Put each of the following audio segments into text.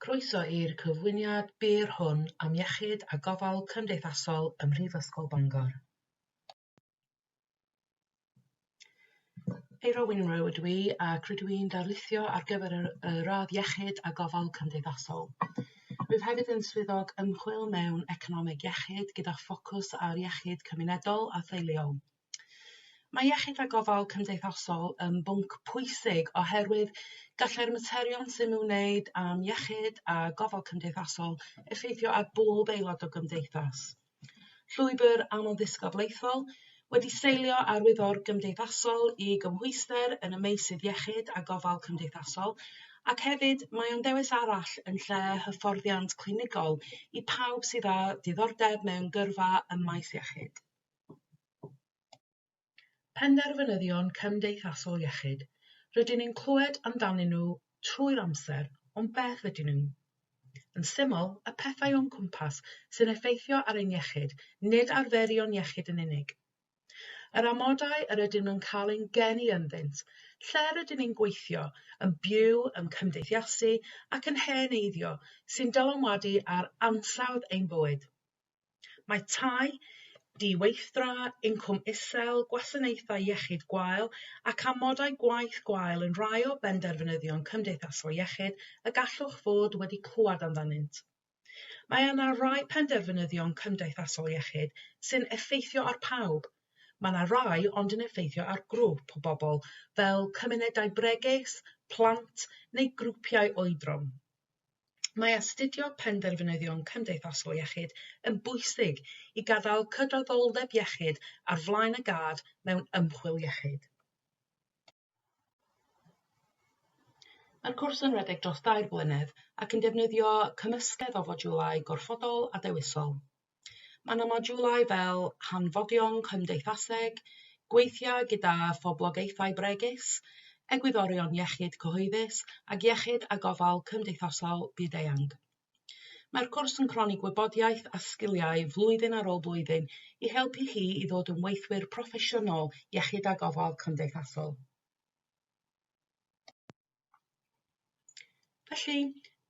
Croeso i'r cyflwyniad byr hwn am Iechyd a Gofal Cymdeithasol ym Mhrifysgol Bangor. Eira Winrow ydw i ac rydw i'n darlithio ar gyfer y, y radd Iechyd a Gofal Cymdeithasol. Rwyf hefyd yn swyddog ymchwil mewn economeg iechyd gyda ffocws ar iechyd cymunedol a theuluol. Mae iechyd a gofal cymdeithasol yn bwnc pwysig oherwydd gallai'r materion sy'n ymwneud â'n iechyd a gofal cymdeithasol effeithio ar bob aelod o gymdeithas. Llwybr amlddisgyblaethol wedi seilio ar wyddor gymdeithasol i gymhwyster yn y meysydd iechyd a gofal cymdeithasol ac hefyd mae o'n ddewis arall yn lle hyfforddiant clinigol i pawb sydd â diddordeb mewn gyrfa ym maes iechyd. Penderfynyddion cymdeithasol iechyd, rydyn ni'n clywed amdanyn nhw trwy'r amser, ond beth ydyn nhw? Yn syml, y pethau o'n cwmpas sy'n effeithio ar ein iechyd, nid arferion iechyd yn unig. Yr amodau yr ydym yn cael ein geni ynddynt, lle rydyn ni'n gweithio, yn byw, yn cymdeithasu ac yn hen eiddio sy'n dylanwadu ar ansawdd ein bywyd. Mae tai di-weithdra, incwm isel, gwasanaethau iechyd gwael ac amodau gwaith gwael yn rhai o benderfynyddion cymdeithasol iechyd y gallwch fod wedi clywed amdanynt. Mae yna rai penderfynyddion cymdeithasol iechyd sy'n effeithio ar pawb. Mae yna rai ond yn effeithio ar grŵp o bobl, fel cymunedau bregus, plant neu grwpiau oedran. Mae astudio penderfynyddion cymdeithasol iechyd yn bwysig i gadael cydraddoldeb iechyd ar flaen y gad mewn ymchwil iechyd. Mae'r cwrs yn rhedeg dros dair blynedd ac yn defnyddio cymysgedd o fodiwlau gorfodol a dewisol. Mae yna modiwlau fel hanfodion cymdeithaseg, gweithiau gyda phoblogaethau bregus, egwyddorion iechyd cyhoeddus ac iechyd a gofal cymdeithasol byd-eang. Mae'r cwrs yn cronni gwybodaeth a sgiliau flwyddyn ar ôl blwyddyn i helpu chi i ddod yn weithwyr proffesiynol iechyd a gofal cymdeithasol. Felly,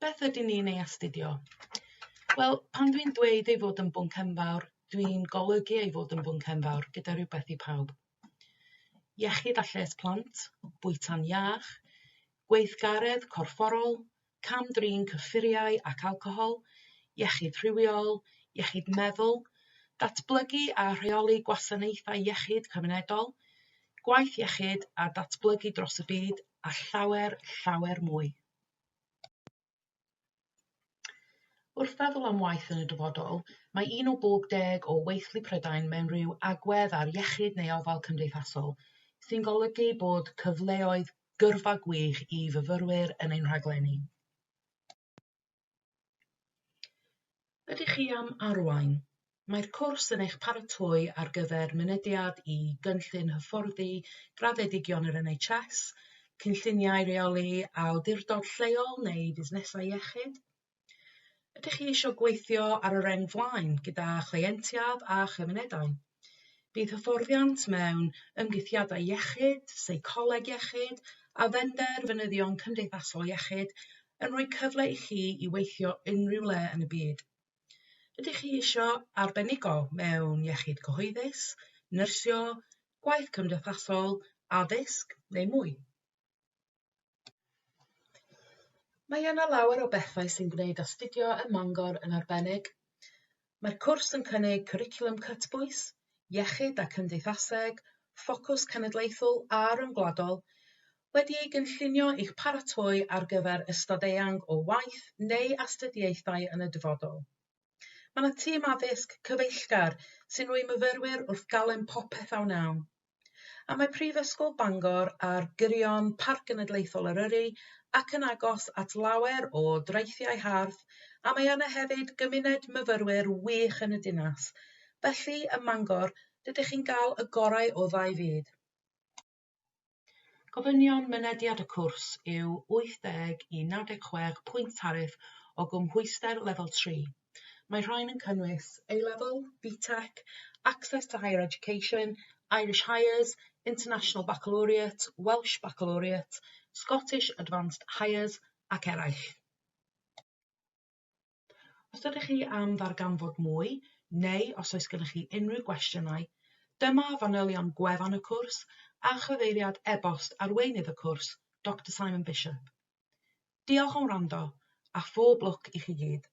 beth ydyn ni'n ei astudio? Wel, pan dwi'n dweud ei fod yn bwnc enfawr, dwi'n golygu ei fod yn bwnc enfawr gyda rhywbeth i pawb. Iechyd a lles plant, bwyta'n iach, gweithgaredd corfforol, cam-drin cyffuriau ac alcohol, iechyd rhywiol, iechyd meddwl, datblygu a rheoli gwasanaethau iechyd cymunedol, gwaith iechyd a datblygu dros y byd a llawer, llawer mwy. Wrth feddwl am waith yn y dyfodol, mae un o bob deg o weithlu Prydain mewn rhyw agwedd ar iechyd neu ofal cymdeithasol, sy'n golygu bod cyfleoedd gyrfa gwych i fyfyrwyr yn ein rhaglenni. Ydych chi am arwain? Mae'r cwrs yn eich paratoi ar gyfer mynediad i gynllun hyfforddi graddedigion yr NHS, cynlluniau rheoli awdurdod lleol neu fusnesau iechyd. Ydych chi eisiau gweithio ar y reng flaen gyda chleientiaid a chymunedau? Bydd hyfforddiant mewn ymddygiadau iechyd, seicoleg iechyd a phenderfynyddion cymdeithasol iechyd yn rhoi cyfle i chi i weithio unrhyw le yn y byd. Ydych chi eisiau arbenigo mewn iechyd cyhoeddus, nyrsio, gwaith cymdeithasol, addysg neu mwy? Mae yna lawer o bethau sy'n gwneud astudio ym Mangor yn arbennig. Mae'r cwrs yn cynnig cwricwlwm cytbwys, iechyd a cymdeithaseg, ffocws cenedlaethol a ryngwladol, wedi ei gynllunio i'ch paratoi ar gyfer ystod eang o waith neu astudiaethau yn y dyfodol. Mae 'na tîm addysg cyfeillgar sy'n rhoi myfyrwyr wrth galon popeth a wnawn. A mae Prifysgol Bangor ar gyrion Parc Genedlaethol Eryri ac yn agos at lawer o draethiau hardd, a mae yna hefyd gymuned myfyrwyr wych yn y dinas. Felly, ym Mangor, rydych chi'n cael y gorau o ddau fyd. Gofynion mynediad y cwrs yw 80 i 96 pwynt tariff o gymhwyster Lefel 3. Mae rhain yn cynnwys A-Level, BTEC, Access to Higher Education, Irish Highers, International Baccalaureate, Welsh Baccalaureate, Scottish Advanced Highers ac eraill. Os ydych chi am ddarganfod mwy, neu os oes gennych chi unrhyw gwestiynau, dyma fanylion gwefan y cwrs a chyfeiriad e-bost arweinydd y cwrs, Doctor Simon Bishop. Diolch am wrando, a phob lwc i chi gyd!